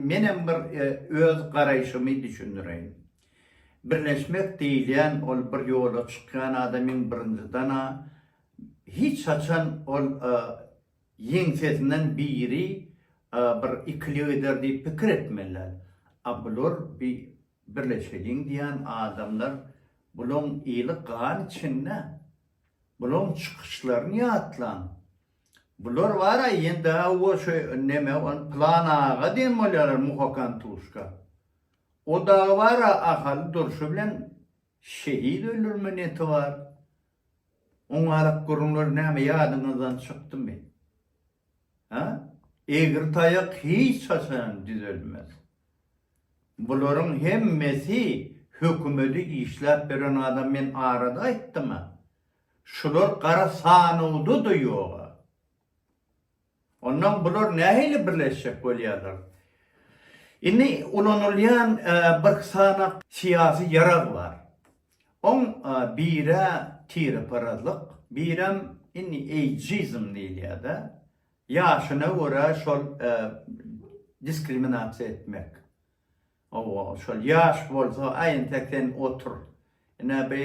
Menem bir öz garaýşymy düşündireýin. Birleşmek diýilýän ol bir ýola çykýan adamyň birinjiden-ä hiç haçan ol ýeňsesinden biri bir ikilik eder diýip pikir etmeli däl. A bular bi birleşeliň diýýän adamlar bulaň eli gan içinde. Bulaň çykyşlaryny ýatlaň. Bular bar-a ýene-de o şu neme ol Pylan aga diýen bolýarlar muhakan tuşka. O dagy bar-a Ahaly durşy bilen şehit öldürme neti bar. Oň arak gürrüňleri näme ýadyňyzdan çykdymy? Hä? Egri taýak hiç haçan düzelmez. Bularyň hemmesi hökümedi işläp beren adam men arada aýtdym-a. Şular gara sanawda-da ýog-a. Ondan bular nähili birleşjek bolýarlar? Indi ulanylýan bir sanaw syýasy ýarag bar. Oň biri tireparazlyk, birem indi eýjizm diýilýär-de, ýaşyna görä şol diskriminasiýa etmek. Hawa, şol ýaş bolsa, aý entek sen otur. Ine bi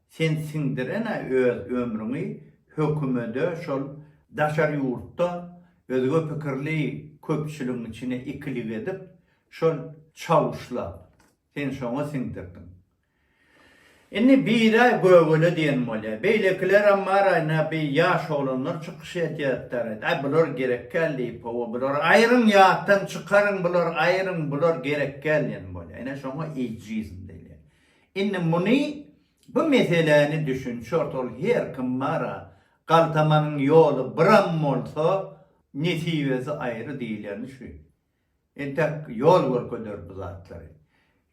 Sen siňdirene öz ömrüňi hökümede şol daşary ýurtda özge pikirli köpçüligiň içine ikilik edip şol çawuşla sen şoňa siňdirdiň. Indi biraý gögele diýen bolýa. Beýlekilerem bar aýna bi ýaş oglanlar çykyş edýätdar. Aý bular gerekgäl diýip hawa bular aýryň ýatdan çykaryň bular aýryň bular gerekgäl diýen bolýa. Ine şoňa eýjizm diýilýä. Indi muny bu meseläni düşün çort ol her kim bara galtamanyň ýoly biram bolsa nesibesi aýry diýilýäni şu entek ýol görkeder bu zatlary.